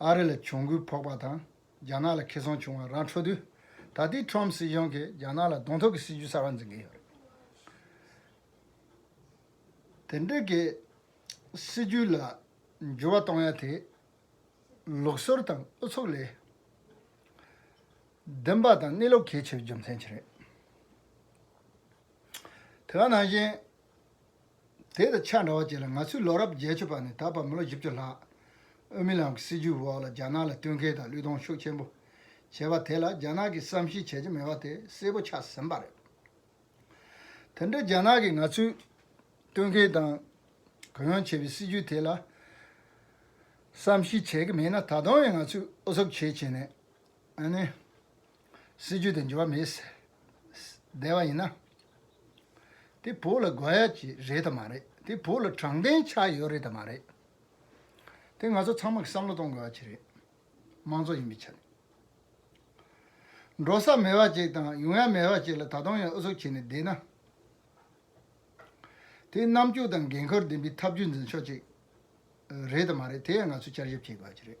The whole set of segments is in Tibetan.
ཨ་རི་ལ་གྱོང་གུད་ཕོག་པ་དང་རྒྱ་ནག་ལ་ཁེ་ཚོང་བྱུང་བ་ར་འཕྲོད་དུས། ད་ལྟའི Trump སྲིད་གཞུང་གིས་རྒྱ་ནག་ལ་གདོང་ཐུག་གི་སྲིད་ཇུས་གསར་བ་འཛིན་གྱི་ཡོད། དེ་འདྲ་གི་སྲིད་ཇུས་ལ་འགྱུར་བ་གཏོང་ཡ་དེ་ལུགས་སྲོལ་དང་ཨུ་ཚུགས་ལས་བདེན་པ་དང་གནས་ལུགས་གལ་ཆེ་བའི་རྒྱུ་མཚན་གྱིས་རེད། དེ་བ་ནང་བཞིན། དེ་དང་ཆ་འདྲ་བ་གཅིག་ལ་ང་ཚོའི་ལོ་རབས་བརྒྱད་ཅུ་པ་ནས་ད་བར་མི་ལོ་བཞི་བཅུ་ལྷག་ཨོ་མི་ལམ་གྱི་སྲིད་བྱུས་འོག་ལ་རྒྱ་ནག་ལ་བསྟུན་མཁས་དང་བློས་གཏོང་ཤུགས་ཆེན་པོ་བྱས་པ་དེ་ལ་རྒྱ་ནག་གིས་བསམ་ཤེས་བྱེད་ཀྱི་མེད་པ་དེ་གསལ་པོ་ཆགས་ཟིན་པ་རེད། དེ་འདྲའི་རྒྱ་ནག་གིས་ང་ཚོས་བསྟུན་མཁས་དང་གུ་ཡངས་བྱས་པའི་སྲིད་བྱུས་དེ་ལ་བསམ་ཤེས་བྱེད་ཀྱི་མེད་ན་ད་དུང་ཡང་ང་ཚོས་ཨུ་ཚུགས་བྱེད་བྱེད་ནས་སྲིད་ཇུས་དང་འབྲེལ་བ་མེད་ཟེར་བསྡད་པ་ཡིན་ན། དེ་བོད་ལ་དགོས་ཡ་ཀྱི་རེད་དམ་མ་རེད། དེ་བོད་ལ་དྲང་བདེན་ཆགས་ཡོད་རེད་དམ་མ་རེད། དེ་ང་ཚོ་ཚང་མ་གི་བསམ་བློ་གཏོང་དགོས་ཡ་ཀྱི་རེད། མང་གཙོ་ཡིན་པའི་ཆ་ནས། འགྲོ་ས་མེད་པ་ཅིག་དང་ཡོང་ཡ་མེད་པ་ཅིག་ལ་ད་དུང་ཡང་ཨུ་ཚུགས་བྱེད་ནས་བསྡད་ན། དེ་རྣམ་དཔྱོད་དང་འགན་ཁུར་ལྡན་པའི་ཐབས་ཇུས་འཛིན་ཕྱོགས་ཅིག་རེད་དམ་མ་རེད་དེ་ཡང་ང་ཚོས་བསྐྱར་ཞིབ་བྱེད་དགོས་ཡ་ཀྱི་རེད།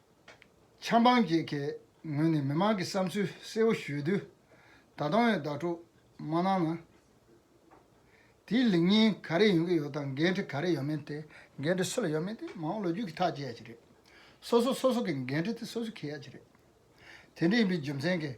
ཆབ་འབངས་བརྒྱད་ཁའི་ངོས་ནས་མི་མང་གི་བསམ་ཚུལ་གསལ་བོ་ཞུས་དུས། ད་དུང་ཡང་བདག་སྤྲོ་མ་གནང་ན། དེའི་ལེགས་ཉེས་ག་རེ་ཡོང་གི་ཡོད་དང་འགན་འཁྲི་ག་རེ་ཡོད་མེད་དེ། འགན་འཁྲི་སུ་ལ་ཡོད་མེད་དེ་མ་འོངས་ལོ་རྒྱུས་ཀྱིས་ཐག་བཅད་ཡ་གྱི་རེད། སོ་སོ་སོ་སོ་གི་འགན་འཁྲི་དེ་སོ་སོས་འཁེལ་ཡ་གྱི་རེད། དེ་འདྲ་ཡིན་པའི་རྒྱུ་མཚན་གྱིས།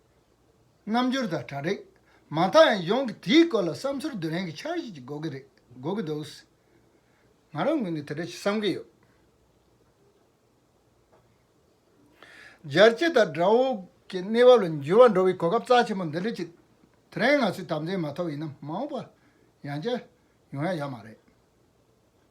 རྣམ་འགྱུར་དང་གྲ་སྒྲིག། མ་མཐའ་ཡང་ཡོངས་ཀྱི་དེའི་སྐོར་ལ་བསམ་ཚུལ་བསྡུ་རན་གྱི་འཆར་གཞི་ཅིག་འགོག་གི་རེད་འགོག་གི་འདུག། ང་རང་ངོས་ནས་དེ་འདྲ་ཞིག་བསམ་གྱི་ཡོད། སྦྱར་བྱེད་དང་སྒྲ་འོག་གི་གནས་བབ་ལ་འགྱུར་བ་འགྲོ་བའི་གོ་སྐབས་རྩ་ཆེན་པོ་འདི་འདྲ་ཅིག་དེ་རིང་ང་ཚོས་དམ་འཛིན་མ་ཐོབ་ཡིན་ན་མ་འོངས་པར་ཡང་བྱས་ཡོང་ཡ་ཡག་མ་རེད།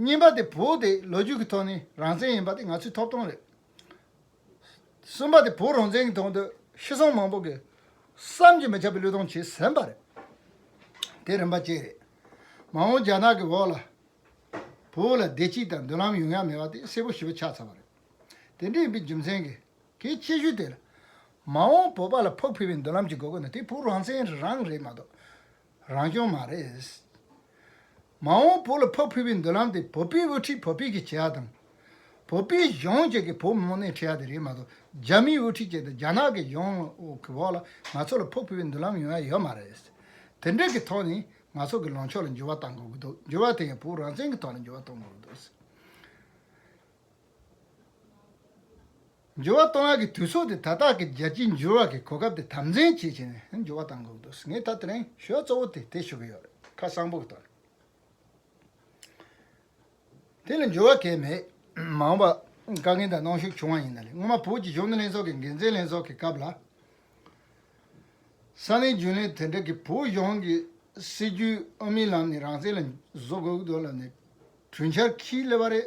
རྙིང་པ་དེ་བོད་དེ་ལོ་རྒྱུས་ཀྱི་ཐོག་ནས་རང་བཙན་ཡིན་པ་དེ་ང་ཚོའི་ཐོབ་ཐང་རེད། གསུམ་པ་དེ་བོད་རང་བཙན་གྱི་ཐོག་ཏུ་ཤི་སོང་མང་པོ་གི་བསམ་གྱིས་མི་ཁྱབ་པའི་བློས་གཏོང་བྱས་ཟིན་པ་རེད། དེ་རིམ་པ་བཅས་རེད། མ་འོངས་རྒྱ་ནག་གི་འོག་ལ་བོད་ལ་བདེ་སྐྱིད་དང་མདུན་ལམ་ཡོང་ཡ་མེད་པ་དེ་གསལ་པོ་ཞིབ་པོ་ཆགས་ཚར་བ་རེད། དེ་འདྲ་ཡིན་པའི་རྒྱུ་མཚན་གྱིས་གིས་ཁྱད་ཆོས་དེ་ལ་མ་འོངས་བོད་པ་ལ་ཕུགས་འཕེར་བའི་མདུན་ལམ་གྱི་དགོས་མཁོ་ནི་དེ་བོད་རང་བཙན་རང་རེད་མ་གཏོགས་རང་སྐྱོང་མ་རེད། མ་འོངས་བོད་ལ་ཕ་ཕུལ་བའི་མདུན་ལམ་དེ་བོད་པའི་དབུ་ཁྲིད་བོད་པས་ཀྱིས་བྱེད་ཡག་དང། བོད་པའི་གཞུང་བཅས་ཀྱིས་བོད་མི་མང་སྣེ་ཁྲིད་ཡག་དེ་རེད་མ་གཏོགས་རྒྱ་མིའི་དབུ་ཁྲིད་བཅས་དང་རྒྱ་ནག་གི་གཞུང་གི་འོག་ལ་ང་ཚོ་ལ་ཕ་ཕུལ་བའི་མདུན་ལམ་ཡོང་ཡ་ཡོད་མ་རེད། དེ་འབྲེལ་གྱི་ཐོག་ནས་ང་ཚོ་གི་ལངས་ཕྱོགས་ལ་འགྱུར་བ་གཏང་དགོས་ཀྱི་འདུག་འགྱུར་བ་དེ་ཡང་བོད་རང་བཙན་གྱི་ཐོག་ལ་འགྱུར་བ་གཏོང་དགོས་ཀྱི་འདུག། འབྱོར་བ་གཏོང་བ་གི་དུས་ཚོད་དེ་ད་ལྟ་གི་རྒྱལ་སྤྱིའི་འབྱོར་བ་གི་གོ་སྐབས་དེ་དམ་འཛིན་བྱེད་ཆེད་ནས་འབྱོར་བ་བཏང་དགོས་འདུག་ངས་ད་དྲན་ཤོས་གཙོ་བོ་དེ་དེ་ཞུ་གི་ཡོད་རེད་ཁ་སང་པོ་གི་དོན་དེ་ལ་འབྱོར་བ་གས་མེད། མ་འོངས་པ་བཀའ་རྒན་དང་གནང་ཞུགས་བྱུང་བ་ཡིན་ན་ལེ་སྔོན་མ་བོད་ཀྱི་གཞུང་ལས་ཚོགས་ཀྱི་འགན་འཛིན་ལྷན་ཚོགས་ཀྱི་སྐབས་ལ། ས་གནས་རྒྱུན་ལས་དེ་འདྲ་གི་བོད་གཞུང་གི་སྲིད་ཇུས་དབུ་མའི་ལམ་ནས་རང་བཙན་ལ་བཟོ་དགོས་གི་འདུག་ལབ་ནས་གྲོས་འཆར་ཁྱིས་སླེབས་པ་རེད།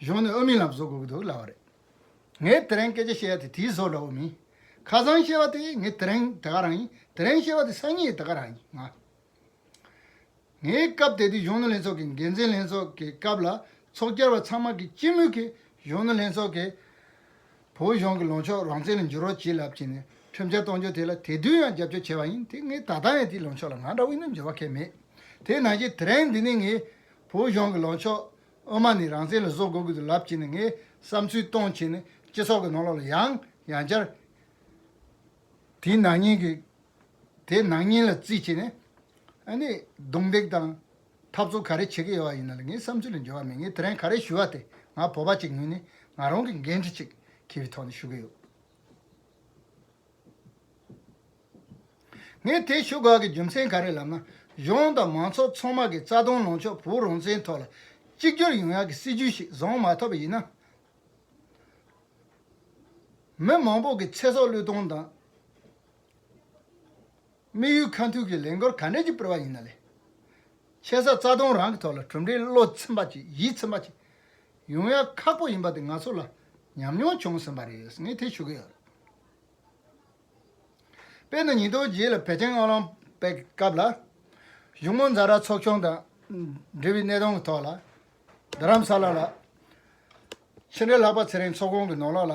གཞུང་ནས་ཨོ་མིན་ལ་བཟོ་དགོས་ཀྱི་འདུག་ལབ་པ་རེད། ངས་དེ་རིང་སྐད་ཆ་བཤད་ཡ་དེ་དེའི་བཟོ་ལ་ཨོ་མིན། ཁ་སང་བཤད་པ་དེ་ངས་དེ་རིང་དེ་ག་རང་ཡིན། དེ་རིང་བཤད་པ་དེ་སང་ཉིན་དེ་ག་རང་ཡིན། ངས་སྐབས་དེ་དུས་གཞོན་ནུ་ལྷན་ཚོགས་ཀྱི་འགན་འཛིན་ལྷན་ཚོགས་ཀྱི་སྐབས་ལ་ཚོགས་བཅར་བ་ཚང་མ་གིས་སྤྱི་མོས་ཀྱིས་གཞོན་ནུ་ལྷན་ཚོགས་ཀྱི་བོད་གཞུང་གི་ལངས་ཕྱོགས་རང་བཙན་ལ་འགྱུར་བ་བྱེད་ལབ་ཀྱི་ནས་ཁྲིམས་འཆར་གཏོང་རྒྱུ་དེ་ལ་དེ་དུས་ཡང་རྒྱབ་སྐྱོར་བྱས་པ་ཡིན་དེ་ངས་ད་ལྟ་ཡང་དེའི་ལངས་ཕྱོགས་ལ་ང་འདྲ་བས་ནི་འགྱུར་བ་ཁེལ་མེད་དེ་ནང་བཞིན་དེ་རིང་འདི་ནས་ངས་བོད་གཞུང་གི་ལངས་ཕྱོགས་དབུ་མ་ནི་རང་བཙན་ལ་བཟོ་དགོས་དགོས་དུ་ལབ་ཀྱི་ནས་ངས་བསམ་ཚུལ་གཏོང་ཆེད་ནི་སྤྱི་ཚོགས་ཀྱི་ནང་ལོགས་ལ་ཡང་ཡང་བསྐྱར་དེའི་ནང་སྙིང་གི་དེའི་ནང་སྙིང་ལ་བརྩིས་ཆེད་ནི་ཨ་ནི་རྡུང་རྡེག་དང། འཐབ་རྩོད་ག་རེ་བྱེད་ཀྱི་ཡོད་པ་ཡིན་ནའི་ངའི་བསམ་ཚུལ་ལ་འགྱུར་བ་མེད་ངས་དེ་རིང་ག་རེ་ཞུ་བ་དེ་ང་བོད་པ་གཅིག་ངོས་ནས་ང་རང་གི་འགན་འཁྲི་ཅིག་གི་བའི་ཐོག་ནས་ཞུ་གི་ཡོད། ངས་དེ་ཞུ་དགོས་ཀྱི་རྒྱུ་མཚན་ག་རེ་ལབ་ན་གཞུང་དང་མང་ཚོགས་ཚང་མ་གི་རྩ་དོན་ལངས་ཕྱོགས་བོད་རང་བཙན་ཐོག་ལ་གཅིག་གྱུར་ཡོང་ཡག་གི་སྲིད་ཇུས་ཤིག་བཟང་མ་ཐོབ་པ་ཡིན་ན། མི་མང་པོ་གི་ཚེ་སྲོག་བློས་གཏོང་དང། དམིགས་ཡུལ་ཁ་མཐུན་གྱི་ལས་འགོར་ག་འདྲས་ཀྱིས་སྤེལ་བ་ཡིན་ན་ལས་ཆེ་ས་རྩ་སྟོང་རང་གི་ཐོག་ལ་གྲུབ་འབྲས་བློ་ཚིམ་པ་ཅིག་ཡིད་ཚིམ་པ་ཅིག་ཡོང་ཡ་ཁག་པོ་ཡིན་པ་དེ་ང་ཚོ་ལ་ཉམས་མྱོང་བྱུང་ཟིན་པ་རེད་ངས་དེ་ཞུ་གི་ཡོད། དཔེར་ན་ཉིན་ཐོ་རྗེས་ལ་བེ་ཅིང་དབང་ལུང་པའི་སྐབས་ལ་གཞུང་མང་རྫ་ར་ཚོགས་ཆུང་དང་འབྲེལ་བའི་གནས་སྟངས་ཀྱི་ཐོག་ལ་རྡ་རམ་ས་ལ་ལ་ཕྱི་འབྲེལ་ལྷག་པ་ཚེ་རིང་ཚོགས་ཁོང་གི་ནོར་ལོག་ལ་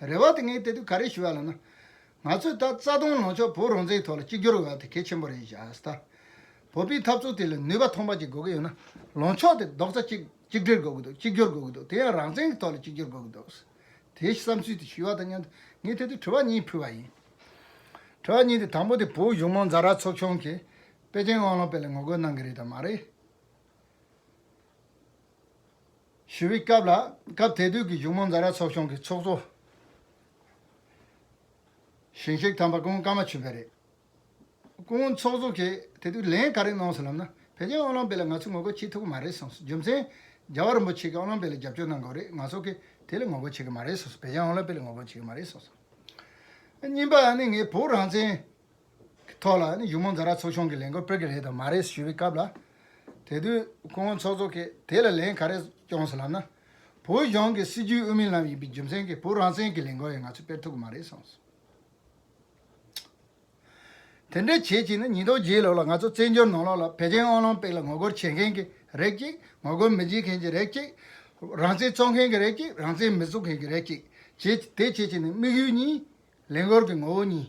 རེ་བ་དེ་ངས་དེ་དུས་ག་རེ་ཞུ་བ་ལ་ན། ང་ཚོས་ད་རྩ་སྟོང་ལོངས་ཕྱོགས་བོད་རང་བཙན་ཐོག་ལ་གཅིག་གྱུར་འོས་པ་དེ་གལ་ཆེན་པོ་རེད་བཞག་ད། བོད་པའི་འཐབ་རྩོད་དེ་ལ་ནུས་པ་ཐོངས་པ་ཅིག་དགོས་ཀྱི་ཡོད་ན། ལོངས་ཕྱོགས་དེ་རྡོག་རྩ་གཅིག་གཅིག་སྒྲིལ་དགོས་ཀྱི་འདུག་གཅིག་གྱུར་དགོས་ཀྱི་འདུག་དེ་ཡང་རང་བཙན་གྱི་ཐོག་ལ་གཅིག་གྱུར་དགོས་ཀྱི་འདུག། དེའི་བསམ་ཚུལ་དེ་ཞུས་བ་དང་མཉམ་དུ་ངས་དེ་དུས་དྲི་བ་གཉིས་ཕུལ་བ་ཡིན། དྲི་བ་གཉིས་དེ་དང་པོ་དེ་བོད་གཞུང་མང་རྫ་ར་ཚོགས་ཆུང་གིས་པེ་ཅིང་དབང་ལུང་པའི་ལ་ངོ་རྒོལ་གནང་གི་རེད་དམ་མ་རེད། ཞུ་བའི་སྐབས་ལ་སྐབས་དེ་དུས་ཀྱི་གཞུང་མང་རྫ་ར་ཚོགས་ཆུང་གི་ཚོགས་གཙོ་གཞོན་གཤེགས་དམ་པ་སྐུ་ངོ་ཀརྨ་ཆོས་འཕེལ་རེད། སྐུ་ངོ་ཚོགས་གཙོ་གིས་དེ་དུས་ལན་ག་རེ་གནང་སོང་ལབ་ན་བོད་རྒྱའི་དབང་ལམ་དཔེ་ལ་ང་ཚོས་ངོ་རྒོལ་བྱེད་ཐུབ་ཀྱི་མ་རེད་གསུངས་སོང། རྒྱུ་མཚན། རྒྱལ་བ་རིན་པོ་ཆེ་གི་དབང་ལམ་དཔེ་ལ་རྒྱབ་སྐྱོར་གནང་དགོས་རེད་ང་ཚོ་གིས་དེ་ལ་ངོ་རྒོལ་བྱེད་ཀྱི་མ་རེད་གསུངས་སོང་བོད་རྒྱའི་དབང་ལམ་དཔེ་ལ་ངོ་རྒོལ་བྱེད་ཀྱི་མ་རེད་གསུངས་སོང། གཉིས་པ་ནི་ངས་བོད་རང་བཙན་གི་ཐོག་ལ་ཡུ་མོ་འགའ་ར་ཚོགས་ཆུང་གི་ལས་འགོ་སྤོད་ཀྱི་རེད་དམ་མ་རེད་ཞུས་པའི་སྐབས་ལ། དེ་དུས་སྐུ་ངོ་ཚོགས་གཙོ་ཁེས་དེ་ལ་ལན་ག་རེ་བསྐྱོང་སོང་ལབ་ན། བོད་གཞུང་གི་སྲིད་བྱུས་དབུ་མའི་ལམ་ཡིན་པའི་རྒྱུ་མཚན་གྱིས་བོད་རང་བཙན་གྱི་ལས་འགོ་ཡང་ང་ཚོས་སྤེལ་ཐུབ་ཀྱི་མ་རེད་གསུངས་སོང། དེ་འདྲའི་བྱེད་ཀྱིན་ན་ཉིས་སྟོང་བརྒྱད་ལོ་ལ་ང་ཚོ་བཙན་བྱོལ་ནང་ལོགས་ལ་བེ་ཅན་ཨོ་ལོང་པིག་ལ་ངོ་རྒོལ་བྱེད་མཁན་གྱི་རེད་ཅིག་ངོ་རྒོལ་མི་བྱེད་མཁན་གྱི་རེད་ཅིག། རང་བཙན་རྩོད་མཁན་གྱི་རེད་ཅིག་རང་བཙན་མི་རྩོད་མཁན་གྱི་རེད་ཅིག་བྱེད་དེ་བྱེད་ཀྱིན་ནས་དམིགས་ཡུལ་གཉིས། ལས་འགོར་གྱི་ངོ་བོ་གཉིས།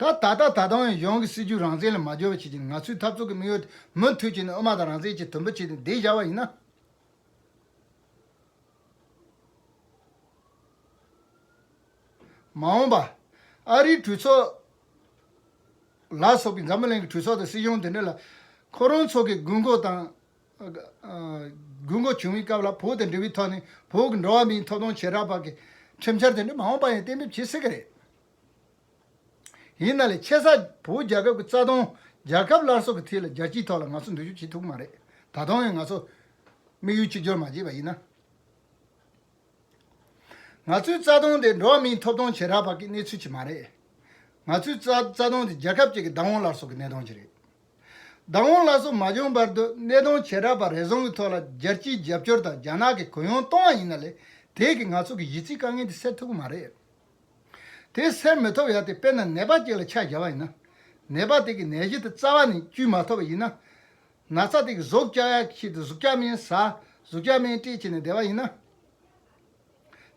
ད་ལྟ་ད་ལྟ་ཏང་ཡོན་ཡོངས་ཀྱི་སྲིད་ཇུས་རང་བཙན་ལ་མ་སྦྱོར་བ་བྱེད་ཅིང་ང་ཚོའི་འཐབ་རྩོད་ཀྱི་དམིགས་ཡུལ་དེ་མུ་མཐུད་བྱས་ནས་དབུ་མ་དང་རང་བཙན་གྱི་དོན་པོ་བྱས་ཏེ་འདེགས་བཞག་པ་ཡིན་ན། མ་འོངས་པ། ཨ་རིའི་གྲོས་ཚོགས། ལ་སོགས་ཀྱིས་འཛམ་བུ་གླིང་གི་གྲོས་ཚོགས་དང་སྲིད་གཞུང་དེ་འདྲ་ལ། ཁོ་རང་ཚོ་གི་དགོས་མཁོ་དང། དགོས་མཁོ་བྱུང་བའི་སྐབས་ལ་བོད་དང་འབྲེལ་བའི་ཐོག་ནས་བོད་ཀྱི་འགྲོ་བ་མིའི་ཐོབ་ཐང་ཆེ་དྲགས་པ་གི་ཁྲིམས་འཆར་དེ་འདྲ་མ་འོངས་པ་ཡང་གཏན་འབེབས་བྱེད་སྲིད་ཀྱི་རེད། ཡིན་ན་ལས་ཆེ་ས་བོད་རྒྱལ་ཁབ་ཀྱི་རྩ་དོན་རྒྱལ་ཁབ་སླར་གསོ་གི་ཐད་ལ་རྒྱལ་སྤྱིའི་ཐོག་ལ་ང་ཚོ་འདུར་རྒྱུགས་བྱེད་ཐུབ་ཀྱི་མ་རེད། ད་དུང་ཡང་ང་ཚོ་དམིགས་ཡུལ་གཅིག་གྱུར་མ་བྱས་པ་ཡིན་ན། ང་ཚོའི་རྩ་དོན་དེ་འགྲོ་བ་མིའི་ཐོབ་ཐང་ཆེ་དྲགས་པ་གི་གནས་ཚུལ་གྱིས་མ་རེད། ང་ཚོའི་རྩ་དོན་དེ་རྒྱལ་ཁབ་ཅིག་གི་བདག་དབང་སླར་གསོ་གི་གནས་སྟངས་ཀྱིས་རེད། བདག་དབང་སླར་གསོ་མ་བྱུང་བར་དུ་སྣེ་གདོང་བྱེ་བྲག་པ་རེ་ཟུང་གི་ཐོག་ལ་རྒྱལ་སྤྱིའི་རྒྱབ་སྐྱོར་དང་རྒྱ་ནག་གི་གུ་ཡངས་གཏོང་བ་ཡིན་ན་ལས་དེས་ཀྱི་ང་ཚོ་གི་གཞི་རྩིའི་དཀའ་ངལ་འདི་སེལ་ཐུབ་ཀྱི་མ་རེད། དེ་སེལ་མི་ཐུབ་ཡ་དེ་དཔེར་ན་ནད་པ་ཅིག་ལ་ཆ་བཞག་པ་ཡིན་ན། ནད་པ་དེ་གི་ནད་གཞི་དེ་རྩ་བ་ནས་བཅོས་མ་ཐུབ་པ་ཡིན་ན། ན་ཚ་དེ་གི་གཟུགས་སྐྱ་ཡ་ཤེད་དེ་གཟུགས་སྐྱ་མའི་ཟ་གཟུགས་སྐྱ་མའི་སྤྲས་བྱས་ནས་བསྡད་པ་ཡིན་ན།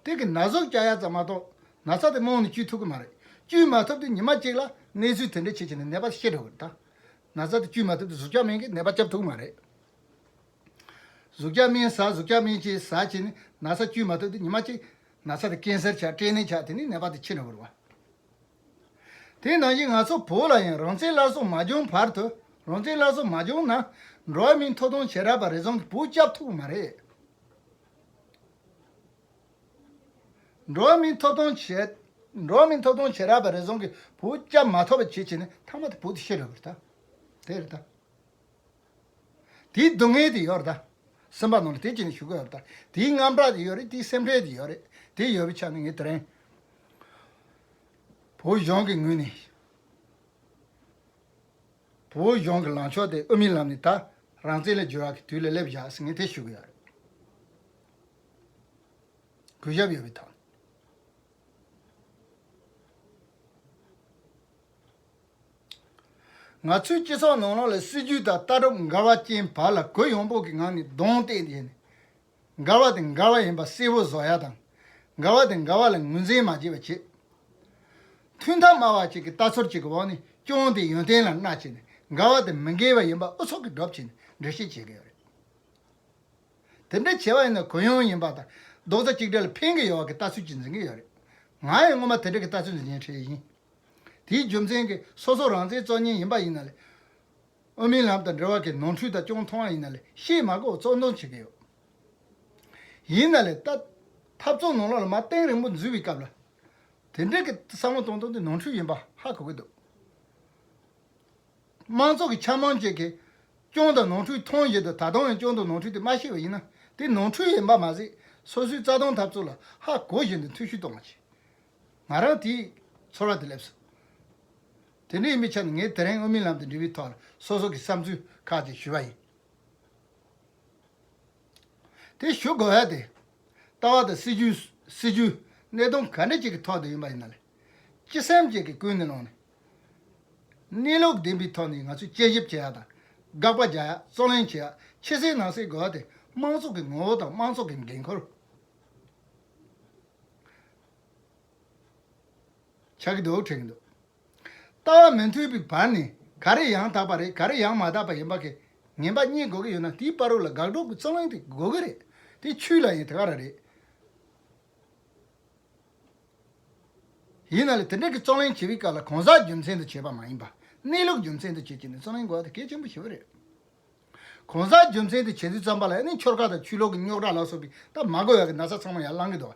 དེ་གི་ན་ཟུག་སྐྱ་ཡ་ཙམ་མ་གཏོགས་ན་ཚ་དེ་རྨོངས་ནས་བཅོས་ཐུབ་ཀི་མ་རེད་བཅོས་མ་ཐུབ་དུས་ཉི་མ་གཅིག་ལ་གནས་ཚུལ་དེ་འདྲས་ཆེ་ཆེ་ནས་ནད་པ་ཤེས་འགྲོ་གི་རེད་ད། ན་ཚ་དེ་བཅོས་མ་ཐུབ་དུས་ཟུག་སྐྱ་སྨན་གི་ནད་པ་བཅབ་ཐུབ་ཀི་མ་རེད། ཟུག་སྐྱ་སྨན་ཟ་ཟུག་སྐྱ་སྨན་གཅེས་ཟ་བྱས་ནས་ན་ཚ་བཅོས་མ་ཐུབ་དུས་ཉི་མ་གཅིག་ན་ཚ་དེ་ཀན་སེར་ཆགས་སྐྲན་ནད་ཆགས་དེ་ནས་ནད་པ་དེ་ཆེ་འགྲོ་གི་རེད་བ། དེ་ནང་བཞིན་ང་ཚོ་བོད་ལ་ཡང་རང་བཙན་སླར་གསོ་མ་བྱུང་བར་དུ་རང་བཙན་སླར་གསོ་མ་བྱུང་ན་འགྲོ་བ་མིའི་མཐོ་གཏོང་བྱེད་རབས་པ་རེ་ཟུང་གི་བུ་བཅབ་ཐུབ་ཀི་མ་རེད། འགྲོ་མིན་ཐོབ་ཐང་བྱེད་རག་པ་རེ་ཟུང་གིས་བུ་སྐྱ་མ་ཐོབ་པ་བྱེད་བྱེད་ནས་ཐ་མ་དེ་བུ་དེ་ཤི་རག་པ་རེད་ད། དེའི་སྡུག་བསྔལ་དེ་ཡོད་རེད་ད། སེམས་པ་ནང་ལ་དེ་བྱེད་ནས་ཞུ་གི་ཡོད་རེད་ད། དེའི་དངངས་སྐྲག་དེ་ཡོད་རེད་དེའི་སེམས་ཁྲལ་དེ་ཡོད་རེད། དེ་ཡོད་པའི་ཆ་ནས་ངས་དེ་རིང་བོད་གཞུང་གི་ངོས་ནས། བོད་གཞུང་གི་ལངས་ཕྱོགས་དེ་དབུ་མའི་ལམ་ནས་ད་རང་བཙན་ལས་འགྱུར་བ་གི་དུས་ལ་སླེབས་བཞག་ཟེར་ངེས་དེ་ཞུ་གི་ཡོད་རེད། གུས་ཞབས་ཡོད་པའི་ཐོག་ནས། ང་ཚོའི་སྤྱི་ཚོགས་ནང་ལ་སྲིད་ཇུས་དང་ལྟ་གྲུབ་འགལ་བ་ཅན་བར་ལ་གུ་ཡངས་པོ་གི་ངང་ནས་གདོང་གཏད་ནས་མགར་བ་དེ་མགར་བ་ཡིན་པ་གསལ་བོ་བཟོ་ཡ་དང། མགར་བ་དེ་མགར་བ་ལ་ངོས་འཛིན་མ་བགྱིད་པ་བྱེད། ཐུན་མཐའ་སྨྲ་བ་ཅིག་གིས་རྟ་ཚོར་ཅིག་གི་འོག་ནས་སྐྱོང་དེ་ཡོན་ཏན་ལ་མངའ་བྱས་ནས་མགར་བ་དེ་མི་འགལ་བ་ཡིན་པ་ཨུ་ཚུགས་ཀྱིས་སྒྲུབ་བྱེད་ནས་འདྲི་བཤད་བྱེད་ཀྱི་ཡོད་རེད། དེ་འདྲ་བྱེད་པ་ཡིན་ན་གུ་ཡངས་ཡིན་པ་དང་རྡོག་རྩ་གཅིག་སྒྲིལ་ལ་ཕན་གྱི་ཡོད་བ་གི་ལྟ་ཚུལ་གྱིས་འཛིན་གྱི་ཡོད་རེད། ང་ཡང་སྔོན་མ་དེ་འདྲ་གི་ལྟ་ཚུལ་འཛིན་མཁན་ཞིག་ཡིན། དེའི་རྒྱུ་མཚན་གྱིས་སོ་སོ་རང་བཙན་རྩོད་ཉེན་ཡིན་པ་ཡིན་ན་ལས། དབུ་མའི་ལམ་དང་འབྲེལ་བ་གི་ནོར་འཁྲུལ་དག་ཅུང་མཐོང་བ་ཡིན་ན་ལས་གཤེད་མ་ཀོ་བཙོག་འདོན་བྱེད་ཀྱི་ཡོད། ཡིན་ན་ལས་ཐབས་བཙོག་ནོར་ལོག་ལ་མ་སྟེང་རིང་པོ་འཛུལ་བའི་སྐབས་ལ་དེ་འདྲ་གི་བསམ་བློ་གཏོང་དོན་དེ་ནོར་འཁྲུལ་ཡིན་པ་ཧ་གོ་གི་འདུག་དམངས་གཙོ་གི་འཆམ་མང་བཅས་ཀྱི་སྐྱོན་དང་ནོར་འཁྲུལ་མཐོང་བཞིན་དུ་ད་དུང་ཡང་སྐྱོན་དང་ནོར་འཁྲུལ་དེ་མ་ཤེས་པ་ཡིན་ན་དེ་ནོར་འཁྲུལ་ཡིན་པ་མ་ཟད་སོ་སོའི་རྩ་དོན་འཐབ་རྩོད་ལ་ཧ་གོ་བཞིན་དུ་འཐུས་ཤུ་གཏོང་བ་བྱེད། ང་རང་དེའི་ཚོར་བ་དེ་སླེབས་སོང། དེ་ནས་དམིགས་བྱ་ནི་ངས་དེ་རིང་དབུ་མའི་ལམ་དུ་འདྲི་བའི་ཐོག་ལ་སོ་སོ་གི་བསམ་ཚུལ་ཁག་ཅིག་ཞུས་པ་ཡིན། དེ་ཞུ་དགོས་བ་དེ། ལྟ་བ་དང་སྲིད་བྱུས། སྲིད་བྱུས། གནད་དོན་ག་འདྲ་ཅིག་གི་ཐོག་ཏུ་ཡིན་པ་ཡིན་ན་ལས། སྤྱི་སེམས་ཅིག་གི་ཀུན་ནས་ལངས་ནས། གནས་ལུགས་བདེན་པའི་ཐོག་ནས་ང་ཚོས་དཔྱད་ཞིབ་བྱེད་ཡག་དང། དགག་པ་རྒྱག་ཡག་རྩོད་གླེང་བྱེད་ཡག་ཕྱི་གསལ་ནང་གསལ་དགོས་བ་དེ་དམངས་གཙོ་གི་ངོ་བོ་དང་དམངས་གཙོ་གི་འགན་ཁུར། ཆགས་ཀྱི་འདུག་དྲན་གྱི་འདུག་ལྟ་བ་མི་མཐུན་པའི་བར་ནས་ག་རེ་ཡང་དག་པ་རེད་ག་རེ་ཡང་མ་དག་པ་ཡིན་པ་གས་ངན་པ་རྙེད་དགོས་ཀྱི་ཡོད་ན་དེའི་དཔའ་རོལ་ལ་དགག་སྒྲོག་གི་རྩོམ་གླེང་དེ་དགོས་ཀྱི་རེད་དེ་ཆུས་ལ་ཡིན་དེ་ག་རང་རེད། ཡིན་ན་ལས་དེ་འདྲ་གི་རྩོམ་གླེང་བྱེད་པའི་སྐབས་ལ་གང་ཟག་རྒྱུ་མཚན་དུ་བྱས་པ་མ་ཡིན་པར་གནས་ལུགས་རྒྱུ་མཚན་དུ་བྱེད་ཀྱི་ནས་རྩོམ་གླེང་དགོས་པ་དེ་གལ་ཆེན་པོ་ཞིག་རེད། གང་ཟག་རྒྱུ་མཚན་དུ་བྱས་དུས་རྩོམ་པ་ལ་ནི་འཁྱོར་ཁ་དང་ཆུ་ལོག་གི་རྙོག་དྲ་ལ་སོགས་པའི་སྟབས་མ་གོ་བ་གི་ན་ཚ་ཚང་མ་ཡར་བསླང་གི་འདུག་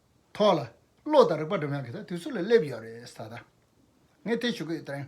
ཐོག་ལ་བློ་དང་རིག་པ་འགྲིམ་ཡང་གི་ད་དུས་ཚོད་ལ་སླེབས་ཡོད་རེད་ད་ལྟ་ངས་དེ་ཞུ་གི་ཡོད་དྲན།